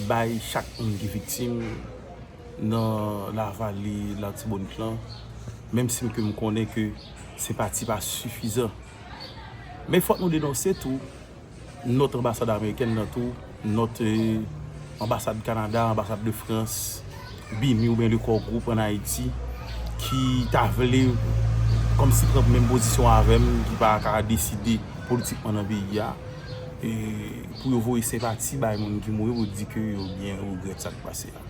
bay chak moun ki viktim nan lavale latibonit lan menm si m ke m konnen ke se pa ti pa sifizan men fòk nou denonse tou nòt anbasad amerikèn nan tou nòt anbasad kanada anbasad de frans bini ou byen de kò gwoup an ayiti ki ta vle kòm si pran menm pozisyon avèm ki pa ka deside politikman nan peyi a. pou yo voye senpati bay moun ki mouri pou di ke yo byen regrèt sa k pase a.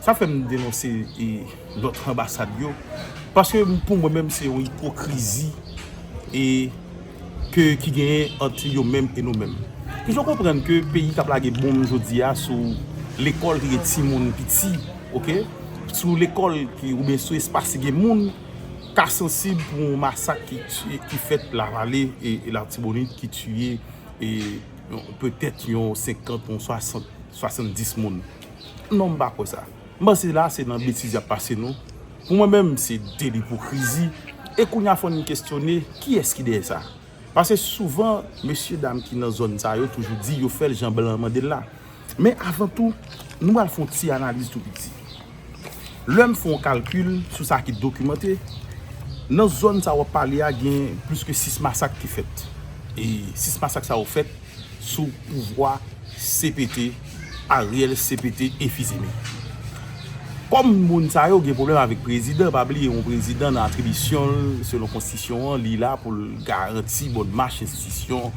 Sa fè m denonse lòt anbasad yo, paske pou mwen menm se yon ipokrizi e ke ki genyen ant yo menm e nou menm. Ki fè w konprann ke peyi k ap lage bonm jodi a sou lekòl ki gen timoun piti, ok, sou lekòl ki oubyen sou espas ki gen moun, ka sansib pou yon masak ki fèt lavale e latibonit ki tiye petèt yon 50 yon 60 70 moun non m pa kwè sa m panse la se nan betiz y ap pase nou pou mwen menm se de lipokrizi e kounye a fò n kesyone kiyès ki dèyè sa pase souvan mesye dam ki nan zòn sa yo toujou di yo fè l jan blan an mande l la. Men avan tou, nou pral fè yon ti analiz tou piti. Lè m fè yon kalkil sou sa ki dokimante, nan zòn sa w ap pale a gen plis ke 6 masak ki fèt. E 6 masak sa yo fèt sou pouvwa CPT, Ariel CPT Efizeme. Kòm moun sa yo gen pwoblèm avèk prezidan, pa bliye yon prezidan nan atribisyon l selon konstisyon an li la pou l garanti bòn mach enstitisyon,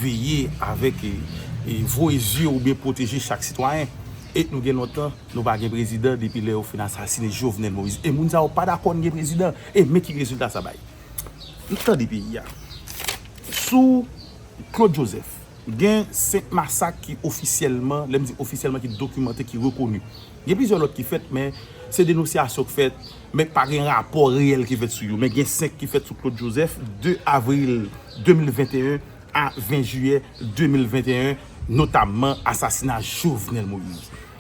veye avèk e voye zye oubyen pwoteje chak sitwayen. E nou gen lontan nou pa gen prezidan depi lè yo fin asasine Jovenel Moïse e moun sa yo pa dakò n gen prezidan e men ki rezilta sa bay. Tande peyi a. Sou. Claude Joseph, Gen 5 masak ki ofisyèlman, lè m di ofisyèlman ki dokimante, ki rekoni. Gen plizyè lòt ki fèt men se denosyasyon k fèt men k pa gen rapò reyèl ki fèt sou yo. Men gen 5 ki fèt sou Claude Joseph, 2 avril 2021 a 20 jiyè 2021, notamman asasina Jovenel Moïse.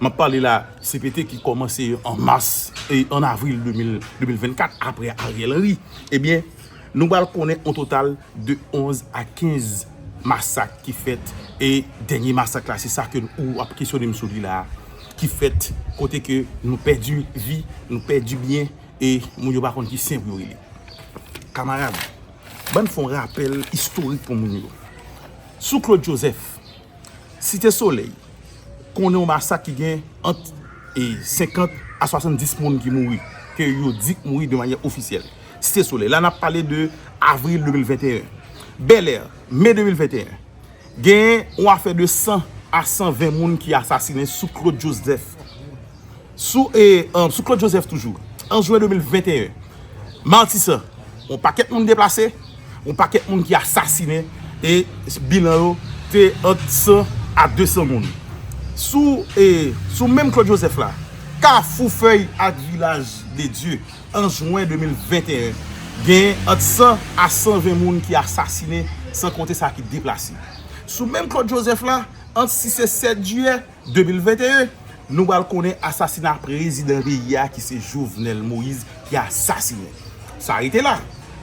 M ap pale la cpt ki kòmanse an mas, an avril 2024 apre Ariel Henry. Ebyen, nou pral konnen on total de 11 a 15 masak ki fèt e dènye masak la se sa ke ou ap kesyone m sou li la ki fèt kote ke nou pèdi vi, nou pèdi byen e moun yo pa konn ki sen pou yo rele. Kamarad, bann fè on rapèl istorik pou moun yo. Sou Claude Joseph. Site Solèy konnen yon masak ki gen ant 50 a 70 moun ki mouri, ke yo di k mouri de manyè ofisyèl. Site Solèy, la nap pale de avril 2021. Bèlè, me 2021, gen yon afè de 100 a 120 moun ki asasinen sou Claude Joseph. Sou e sou Claude Joseph toujou an jwen 2021 Martissant yon pakèt moun deplase yon pakèt moun ki asasinen e bilan yo te ant 100 a 200 moun sou e sou menm Claude Joseph la kafou fèy ak vilaj de Dieu an jwen 2021 gen ant 100 a 120 moun ki asasinen san konte sa ki deplase sou menm Claude Joseph la ant 6 e 7 jiyè 2021, nou pral konnen asasina prezidan peyi a ki se Jovenel Moise ki asasinen. Sa rete la,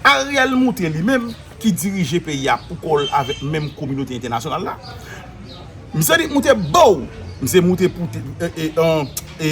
Ariel moutre li menm ki dirije peyi a pou kò l avèk menm kominote entènasyonal la. Misye di moutre boo, misye moutre pou te, e, e, e.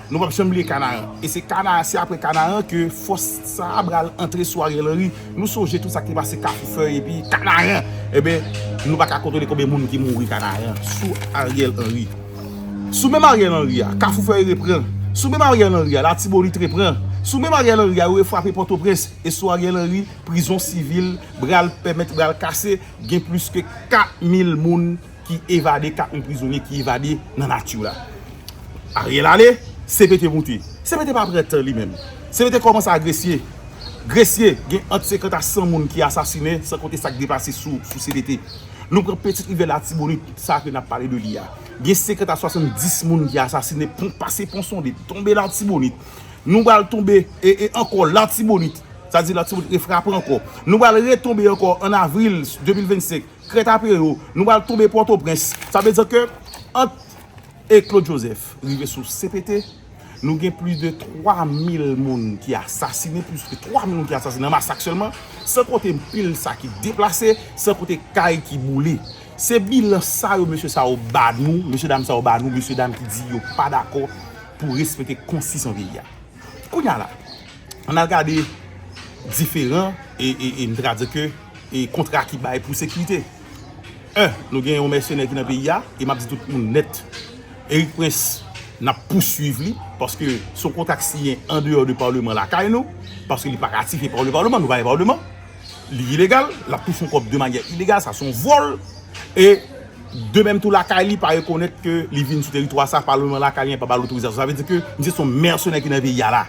Nou pap janm bliye Kanaran. E se Kanaran, se apre Kanaran ke fòs sa a pral antre sou Ariel Henry. Nou sonje tout sa k te pase Kafou Fèy epi Kanaran. Enben, nou pa ka kontole konbyen moun ki mouri Kanaran sou Ariel Henry. Sou menm Ariel Henry a, Kafou Fèy repran. Sou menm Ariel Henry a, Latibonit repran. Sou menm Ariel Henry a, yo refwape Pòtoprens. E sou Ariel Henry, prizon sivil pral pèmèt, pral kase, gen plis ke 4 mil moun. ki evade ka on prizonye ki evade nan nature la Ariel ale CPT moute CPT pa pran tan li menm CPT komanse a gresye gresye gen ant 50 a 100 moun ki asasine san konte sak deplase sou CPT nou pran petit rivyè latibonit sa ke nap pale de li a gen 50 a 70 moun ki asasine pon pase pon sonde tonbe latibonit nou bal tonbe e e anko latibonit sa di latibonit e frape anko nou bal retonbe anko an avril 2025. Trèt apre yo, nou pral tonbe Pòtoprens. Sa vle di ke ant e Claude Joseph rive sou CPT, nou gen plis de 3 mil moun ki asasine, plis ke 3 mil moun ki asasine nan masak sèlman, san konte pil sa ki deplase, san konte kay ki boule. Se bilan sa yo mesye sa yo ba nou, mesye dam sa yo ba nou, mesye dam ki di yo pa dakò pou respekte konstisyon peyi a. Kounya la, ann al gade diferan e, e, e, m te ka di ke, e, kontra ki bay pou sekirite. 1, Nou gen yon mèsenè ki nan peyi a, e m ap di tout moun nèt, Eric Prince, n ap pousuiv li, paske se yon kontra k siyen andeyò de Paleman lakay nou, paske li pa ratifye pa le Paleman, nou pa gen Paleman. Li ilegal, lap touche yon kòb de manyè ilegal, sa son vòl, e de menm tou lakay li pa rekonèt ke li vin sou teritwa sa, pa lwen lakay li, pa bal otorizasyon, sa vle di ke misye son mèsenè ki nan peyi a la.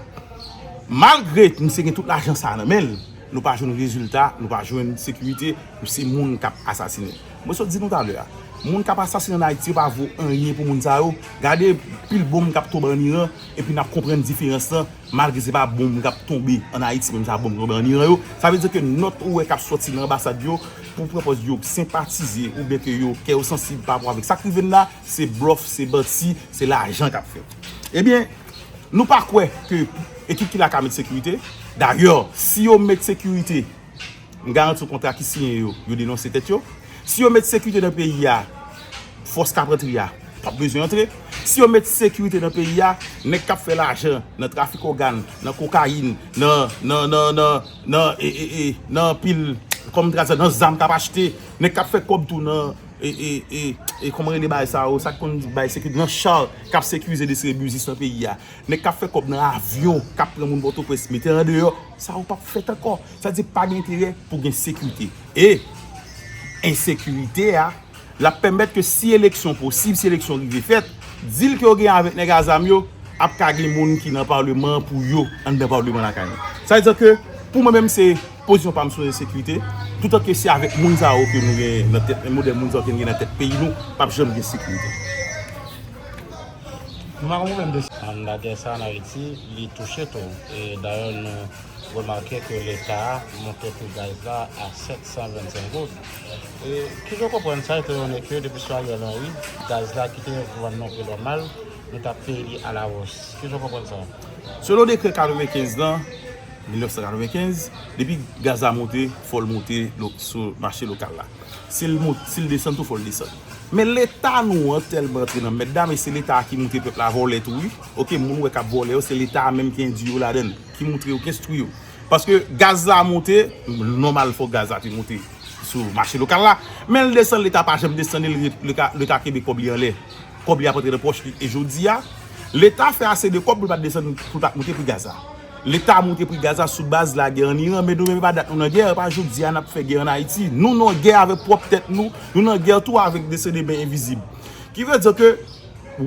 Malgre misye gen tout lajan sa nan menl, nou pa jwenn rezilta, nou pa jwenn sekirite, se moun kap asasine. Mwen sot di nou talè a, moun kap asasine an Ayiti yo pa vo anyen pou moun sa yo, gade pil bonm kap tonbe an Iran, Epi nap konprann diferans lan malgre se pa bonm kap tonbe an Ayiti menm jan ak bonm ki tonbe an Iran yo. Sa vle di ke nòt ou wè kap sòti nan anbasad yo pou pran pòz yo senpatize oubyen ke yo kè yo sansib pa rapò avèk sak rive n la, se blòf, se manti, se lajan kap fèt. Ebyen, nou pa kwè ke ekip ki la ka met sekirite. Dayè, si yo met sekirite. M garanti w kontra ki siyen yo, yo denonse tèt yo. Si yo met sekirite nan peyi a, fòs k ap antre a p ap bezwen antre. Si yo met sekirite nan peyi a, nèg k ap fè lajan nan trafik ògàn, nan kokayin, nan anpil kòm m te ka di sa, nan zam k ap achte, nèg k ap fè kòb tou nan, kòman rele bagay sa yo, sa ki konn bay sekirite, nan cha k ap sekirize, desire biznis nan peyi a, nèg k ap fè kòb nan avyon k ap pran moun Pòtoprens mete andeyò. Sa yo pap fèt ankò. Sa vle di pa gen enterè pou gen sekirite. E ensekirite a, l ap pèmèt ke si eleksyon posib, si eleksyon rive fèt, dil ke yo genyen avèk nèg a zam yo, ap ka gen moun ki nan palman an pou yo, anndan palman lakay nou. Sa vle di ke pou mwen menm se pozisyon pa m sou ensekirite, toutan ke se avèk moun sa yo ke nou genyen nan tèt, modèl moun sa yo ke nou genyen nan tèt peyi nou, pap janm gen sekirite. Mandadè sa an Ayiti, li touche tou. E dayè nou remake ke leta monte pri gaz la a 725 goud. E ki jan w konprann sa etayone ke depi sou Ariel Henry, gaz la ki te vann nan pri nòmal, nou ta peye li alawòs? Ki jan w konprann sa? Selon dekrè 95 lan, 1995, depi gaz la monte, fò l monte sou mache lokal la. Si l monte, si l desann tou fò l desann. Men leta nou an tèlman antre nan mèd la men se leta ki moutre pèp la vòlè tou wi ok moun ou wè kap vòlè yo se leta a menm ki endwi yo ladann ki moutre yo ki enstwi yo paske gaz la moute nòmal fò gaz la te moute sou mache lokal la men l desann leta pa janm desann li leta kenbe kòb li anlè kòb li ap antre nan pòch li e jodi a leta fè ase de kòb pou l pat desann pou l pat moute pri gaz la. Leta moute pri gaz la sou baz lagè an Iran, men nou menm e pa dat nou nan gè, e pa jodi a nap fè gè an Ayiti. Nou nan gè avèk pwòp tèt nou, nou nan gè tou avèk mesye de men envizib. Ki vle di ke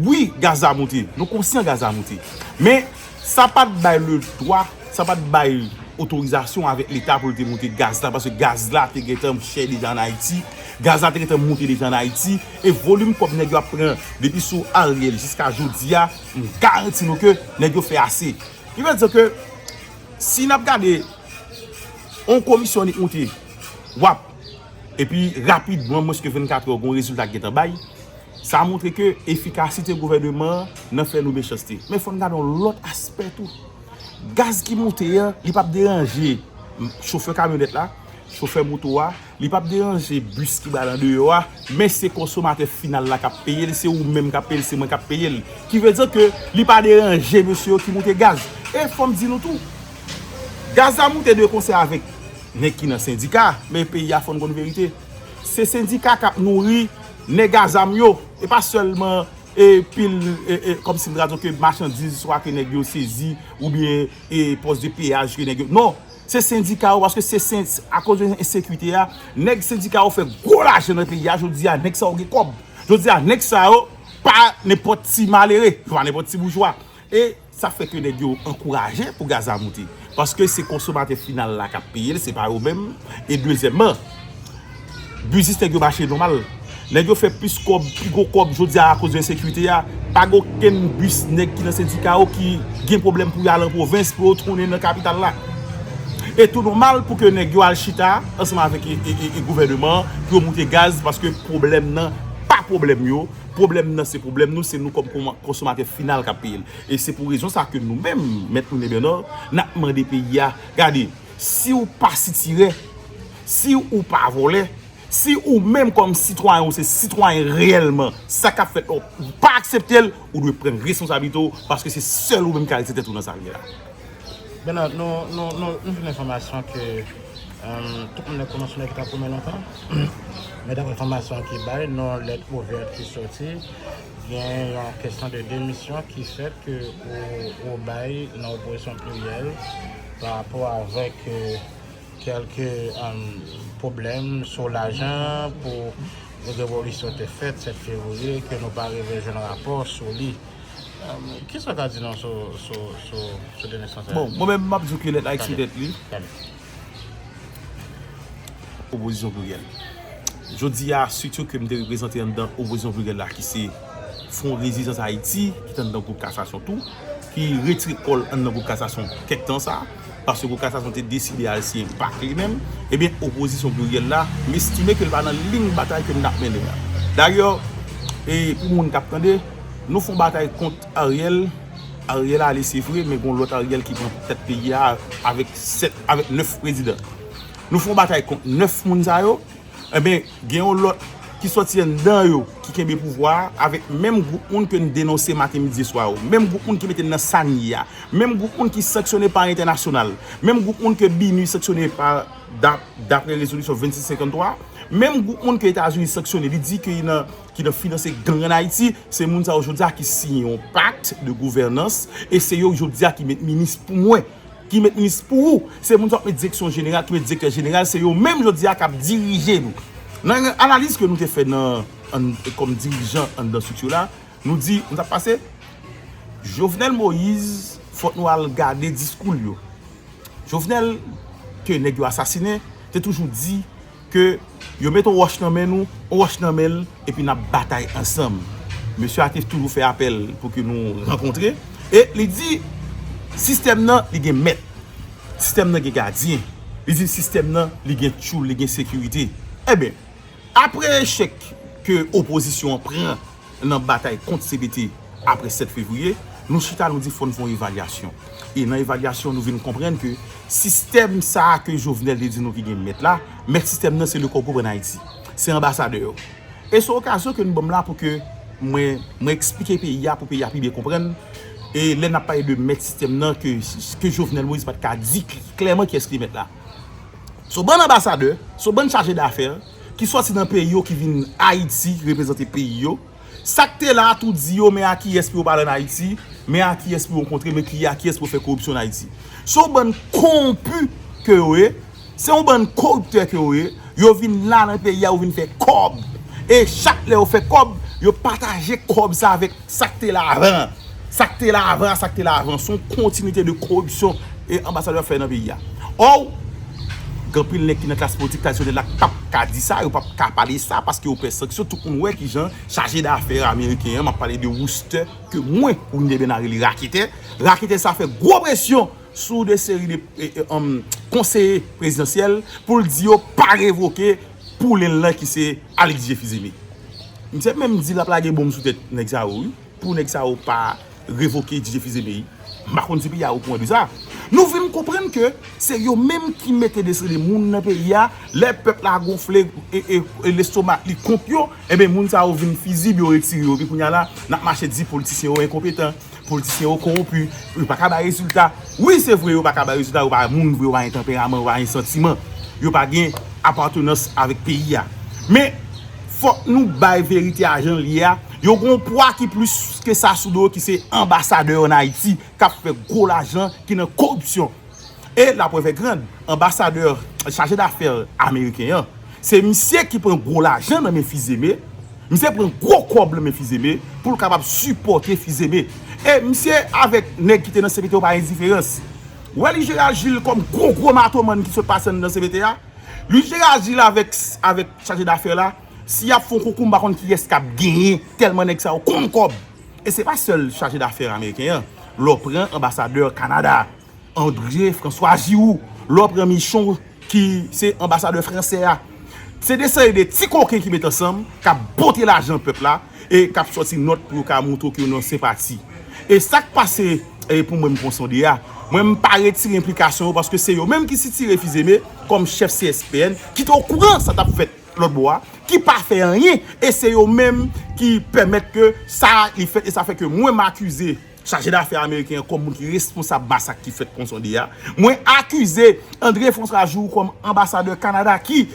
wi gaz la moute, nou konsyan gaz la moute. Men sa pat bay le dwa, sa pat bay otorizasyon avèk leta pou l te moute gaz la, paske gaz la te gentan chè deja an Ayiti, gaz la te gentan moute deja an Ayiti, e volim kòb nèg yo ap pran depi sou Ariel jiska jodi a, M garanti nou ke nèg yo fè ase. Ki vle di ke si nap gade yon komisyon annik moute wap epi rapidman mwenske 24 èr gon rezilta ki gentan bay sa moutre ke efikasite gouvèneman an nan fè nou mechanste. Men fòn gade yon lòt aspè tou. Gaz ki moute an li pap deranje chofè kamyonèt la, chofè moto a. Li pap deranje bus ki ba lan deyò a, men se konsomatè final la kap peye l, se ou menm kap peye l, se mwen kap peye l. Ki vle di ke li pa deranje mesye yo ki moute gaz. E fòm di nou tou, gaz la moute de konsè avèk nèg ki nan sendika, men peyi a fòn konn verite. Se sendika kap nouri nèg a zam yo, e pa sèlman e pil e e kòm si m ta di w ke machandiz swa ke nèg yo sezi, oubyen e pòs de peyaj ke nèg yo, non! Se sendika yo paske se sen akoz de ensekite a nèg sendika yo fè gwo lajan nan peyi a jodi a nèg sa yo gen kòb jodi a nèg sa yo pa nenpòt ti malere yo pa nenpòt ti boujwa e sa fè ke nèg yo ankouraje pou gaz la moute paske se konsomatè final la k ap peye l se pa yo menm e dezyèmman. Biznis nèg yo mache nòmal. Nèg yo fè plis kòb, pi gwo kòb jodi a akoz de ensekirite a. Pa gen okenn bis nèg ki nan sendika yo ki gen pwoblèm pou yo al an pwovens, pou yo tounen nan kapital la. E tou nòmal pou ke nèg yo al chita ansanm avèk gouvèneman an pou yo moute gaz paske pwoblèm nan pa pwoblèm yo, pwoblèm nan se pwoblèm nou, se nou kòm konsomatè final k ap peye l. E se pou rezon sa ke nou menm, Mèt René Bernard, n ap mande peyi a, gade, si ou pa sitirè, Si ou pa vòlè, si ou menm kòm sitwayen ou se sitwayen reyèlman, sa k ap fèt la ou pa aksepte l, ou dwe pran responsabilite ou paske se sèl ou menm ki arete tèt ou nan sa k gen la. Bernard, nou jwenn enfòmasyon ke tout moun nèg konvansyoner ki ta pwomen lontan, men daprè enfòmasyon ki bay nan yon lèt ouvèt ki soti, gen yon kesyon de demisyon ki fèt ke ou bay nan opozisyon pliryèl parapò avèk Kelke pwoblèm sou lajan pou revolisyon te fèt 7 fevriye ke nou pa rive jwenn rapò sou li. Kisa ou ka di nou sou done sa? Bon, mwen menm m ap di w ke lèt la ekspre tèt li. Opozisyon pliryèl. Jodi a, strit yo ke m te reprezante anndan opozisyon pliryèl la ki se Fwon Rezizans Ayiti, ki te anndan gwoup kasasyon tou, ki retire kò l anndan gwoup kasasyon kèk tan sa a. Paske pou Kasasyon te deside al siyen pak li menm, ebyen opozisyon pliryèl la, m estime ke l pa nan liy batay ke n ap mennen an. Dayè, e pou moun k ap tande, nou fon batay kont Ariel, Ariel ale se vre, men gon lòt Ariel ki pran tèt peyi a avèk 7, avèk 9 prezidan. Nou fon batay kont 9 moun sa yo, ebyen, Gen yon lòt ki sòti anndan yo ki kenbe pouvwa a avèk menm gwoup moun ke n denonse maten, midi e swa yo. Menm gwoup moun ki mete n nan sa n ye a. Menm gwoup moun ki sanksyone pa entènasyonal. Menm gwoup moun ke BINUH sanksyone pa dapre rezolisyon 2653. Menm gwoup moun ke Etazini sanksyone li di ki nan finanse gang an Ayiti. Se moun sa yo jodi a ki siyen yon pakt de gouvènans e se yo jodi a ki met minis pou mwen. Ki met minis pou ou. Se moun sa wap met direksyon jeneral, ki met direktè jeneral, se yo menm jodi a kap dirije nou. Nan yon analiz ke nou te fè nan an kòm dirijan anndan estrikti la, nou di nou tap pase Jovenel Moïse fòk nou al gade diskou l yo. Jovenel ke nèg yo asasinen te toujou di Ke yo met on wòch nan men nou, on wòch nan men l, epi n ap batay ansanm. Mesye a te toujou fè apèl pou ke nou rankontre, e li di, Sistèm nan, li gen mèt. Sistèm nan gen gadyen. Li di, Sistèm nan, li gen tchoul, li gen sekirite. Enben, apre echèk ke opozisyon an pran Nan batay kont CBT apre 7 fevriye, nou chita nou di fò n fè yon evalyasyon. E nan evalyasyon nou vin konprann ke sistèm sa a ke Jovenel te di nou ki gen mèt la, mèt sistèm nan se Lecoq Gouvène Haïti. Se anbasadè yo. E se okazyon ke nou ban m la pou ke mwen mwen eksplike peyi a pou peyi a pi byen konprann e lè n ap pale de mèt sistèm nan ke ke Jovenel Moïse pa t ka di klèman kiyès ki mèt la. S on bann anbasadè, s on bann chaje dafè. ki sòti nan peyi yo ki vin Ayiti reprezante peyi yo, sa k te la a tou di yo men a kiyès pou yo pale ann Ayiti, men a kiyès pou yo rankontre, men ki a kiyès pou yo fè koripsyon ann Ayiti. Se yon bann kowonpi ke yo ye, se yon bann koriptè ke yo ye, yo vin la nan peyi a yo vin fè kòb e chak lè yo fè kòb yo pataje kòb sa avèk Sak te la avan an. Sak te la avan an, sak te la avan an. Son kontinite de koripsyon e anbasadè ap fè nan peyi a. Or, gen anpil nèg ki nan klas politik tradisyonèl la k pap ka di sa, yo pap ka pale sa paske yo pè sanksyon. Tout moun wè ki jan chaje dafè ameriken an, m ap pale de Wooster, ke mwen Wilner Bernard rele raketè. Raketè sa fè gwo presyon sou de seri de konseye prezidansyèl pou l di yo pa revoke. Poulain l lan ki se Alix je fizeme. Misye menm di lap lage bonm sou tèt nèg sa yo wi pou nèg sa yo pa revoke ti je fizeme yi. M pa konn si piya ou kouran de sa. Nou vin konprann ke se yo menm ki mete desrele moun nan peyi a. Lè pèp la gonfle e lestomak li kont yo. Enben moun sa yo vin fizib yo retire yo. Epi kounya la nap mache di politisyen yo enkonpetan. Politisyen yo konwonpi, yo pa ka bay rezilta. Wi se vre yo pa ka bay rezilta, yo pa moun vre, yo pa gen tanperaman, yo pa gen santiman. Yo pa gen apatenans avèk peyi a. Men, fòk nou bay verite a jan l ye a, yo gen yon pwa ki plis ke sa sou do yo ki se anbasadè yo an Ayiti k ap fè gwo lajan ki nan koripsyon. E la preuve est grande, anbasadè, chaje dafè ameriken an, se misye ki pran gwo lajan nan men Fils-Aimé, misye pran gwo kòb nan men Fils-Aimé pou l kapab sipòte Fils-Aimé. E misye avèk nèg ki te nan CPT yo pa endiferans. Wèli Gérald Gilles kòm gwo gwo matoman ki sot pase anndan CPT a, Louis Gérald Gilles avèk avèk chaje dafè la, si y ap fè yon konkou m pa konn kiyès k ap genyen tèlman nèg sa yo konn kòb. E se pa sèl chaje dafè ameriken an, lè w pran anbasadè Kanada. André François Giroux lè w pran Michon ki se anbasadè fransè a se de seri de ti koken ki met ansanm k ap pote lajan pèp la e k ap sòti nòt pou yo ka montre w ke yo nan senpati e sa k pase pou mwen m pran Sonde a mwen m pa retire enplikasyon yo paske se yo menm ki sitire Fils-Aimé kòm chèf CSPN ki te okouran sa t ap fèt lòtbò a ki pa fè anyen e se yo menm ki pèmèt ke sa li fèt e sa fè ke mwen m akize. Chaje dafè ameriken an kòm moun ki responsab masak ki fèt Ponsonde a. Mwen akize André François Giroux kòm anbasadè Kanada ki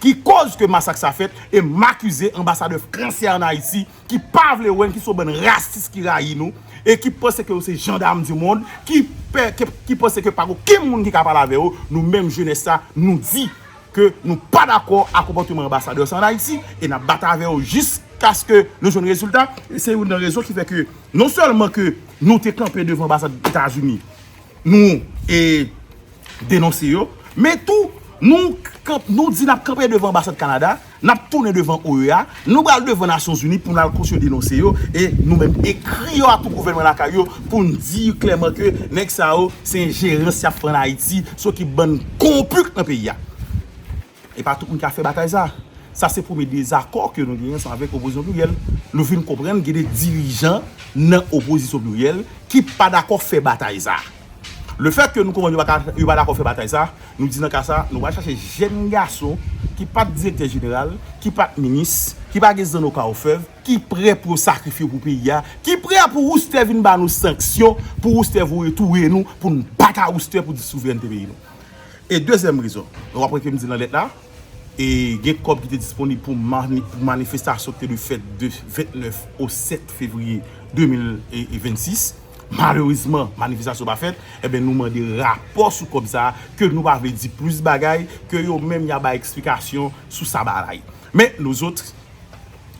ki kòz ke masak sa fèt e m akize anbasadè fransè an Ayiti ki pa vle wè n, ki se yon bann rasis ki rayi nou e ki panse ke yo se jandam di mond, ki pè, ki panse ke pa gen okenn moun ki ka pale avè yo. Nou menm jenès sa, nou di. ke nou pa dakò a konpòteman anbasadè sa an Ayiti e n ap batay avè yo jiskaske nou jwenn rezilta. Se youn nan rezon ki fè ke non sèlman ke nou te kanpe devan anbasad Etazini, nou denonse yo, men tou nou di n ap kanpe devan anbasad Kanada, n ap tounen devan OEA, Nou pral devan Nasyon Zini pou nou al kontinye denonse yo e nou menm ekri yo ak gouvènman lakay yo pou nou di klèman ke nèg sa yo se enjerans y ap fè ann Ayiti sou ekip bann konwonpi k nan peyi a. E pa tout moun ki ap fè batay sa. Sa se premye dezakò ke nou genyen ansanm avèk Opozisyon Pliryèl. Nou vin konprann gen de dirijan nan Opozisyon Pliryèl ki pa dakò fè batay sa. Le fèt ke nou konprann yo pa dakò fè batay sa, nou di nan ka sa, nou pral chache jenn gason ki pat direktè jeneral, ki pat minis, ki pa gen zanno ka ofèv, ki prè pou yo sakrifye pou peyi a, ki prè pou Woustè vin ba nou sanksyon, pou Woustè voye touye nou, pou n bat a Woustè pou di souvrènte peyi nou. E dezyèm rezon, nou konprann ke m di nan lèt la, e gen kòb ki te disponib pou manifestasyon ki te dwe fèt de 29 au 7 fevriye 2026, Malerezman, manifestasyon pa fèt, enben nou mande rapò sou kòb sa a, ke nou pa vle di plis bagay, ke yo menm ya bay eksplikasyon sou sa baay. Men, nou zot,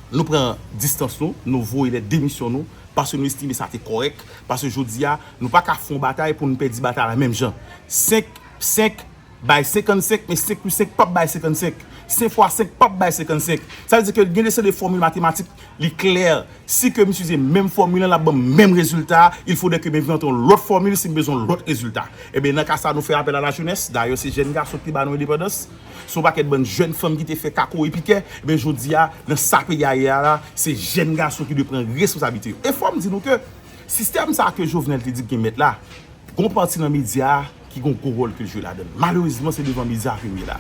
nou pran distans nou, nou voye lèt demisyon nou, paske nou estime sa te kòrèk, paske jodi a, nou pa ka fon batay pou nou pèdi batay la menm jan. 5, 5. Bay 55, men 5 plis 5 pap bay 55. 5 fwa 5 pap bay 55. Sa vle di ke gen de seri de fòmil matematik, li klè, si ke m itilize menm fòmil an, l ap ban m menm rezilta a, il faudrait ke m envante yon lòt fòmil si m bezwen yon lòt rezilta. Enben, nan ka sa a, nou fè apèl a la jenès, dayè se jèn gason ki te ba nou endepandans, se yon pakèt bann jèn fanm ki te fè kako e pikè, enben jodi a, nan sa peyi a ye a la, se jèn gason ki dwe pran responsablite yo. E fò m di nou ke sistèm sa a ke Jovenel te di l gen mèt la, gen yon pati nan medya a, ki gen yon gwo wòl ke l jwe ladan l. Malerezman, se devan medya ke m ye la.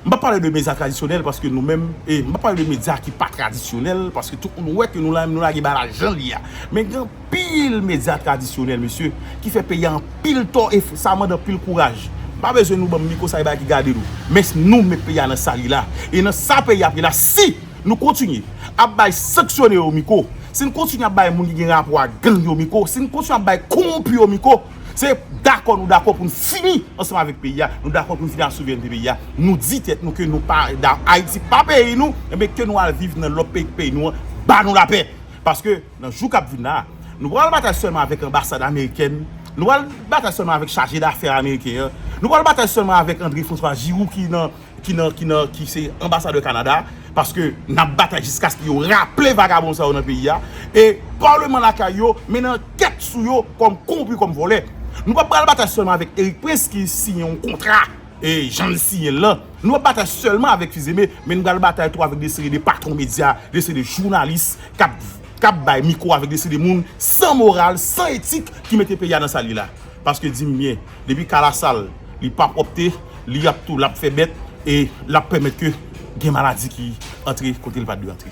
M pa p pale de medya tradisyonèl paske nou menm, e m pa p pale de medya ki pa tradisyonèl paske tout moun wè ke nou la menm nou lage bagay la jan l ye a. Men gen anpil medya tradisyonèl, mesye, ki fè peyi a anpil tò e sa mande anpil kouraj. M pa bezwen nou ban m mikwo sa e bagay ki gade nou. Men se nou met peyi a nan sa li la. E nan sa peyi a ap ye la si nou kontinye ap bay sanksyone yo mikwo, si n kontinye ap bay moun ki gen rapò ak gang yo mikwo, si n kontinye ap bay kowonpi yo mikwo, Se dakò nou dakò pou n fini ansanm avèk peyi a, nou dakò pou n fini ak souverènte peyi a, nou di tèt nou ke nou pa da, Ayiti pa peyi nou, enben ke nou al viv nan lòt peyi k peyi nou an ba nou lapè. Paske nan jou k ap vin la a, nou pa pral batay sèlman avèk anbasad amerikèn, nou pa pral batay sèlman avèk chaje dafè ameriken an, nou pa pral batay sèlman avèk Andre Franswa Jirou ki nan. ki nan ki nan ki se anbasadè Canada paske nap batay jiskaske yo raple vagabon sa yo nan peyi a e parleman lakay yo mennen ankèt sou yo kòm konwonpi kòm vòlè nou pap pral batay sèlman avèk Erik Prince ki siyen yon kontra e jan li siyen l lan nou pap batay sèlman avèk Fils-Aimé men nou pral batay tou avèk de seri de patwon medya de seri de jounalis kap kap bay mikwo avèk de seri de moun san moral san etik ki mete peyi a nan sa l ye la paske di m byen. depi kala sal li pa pwòpte li ap tou lap fè bèt e lap pèmèt ke gen maladi ki antre kote li pat dwe antre.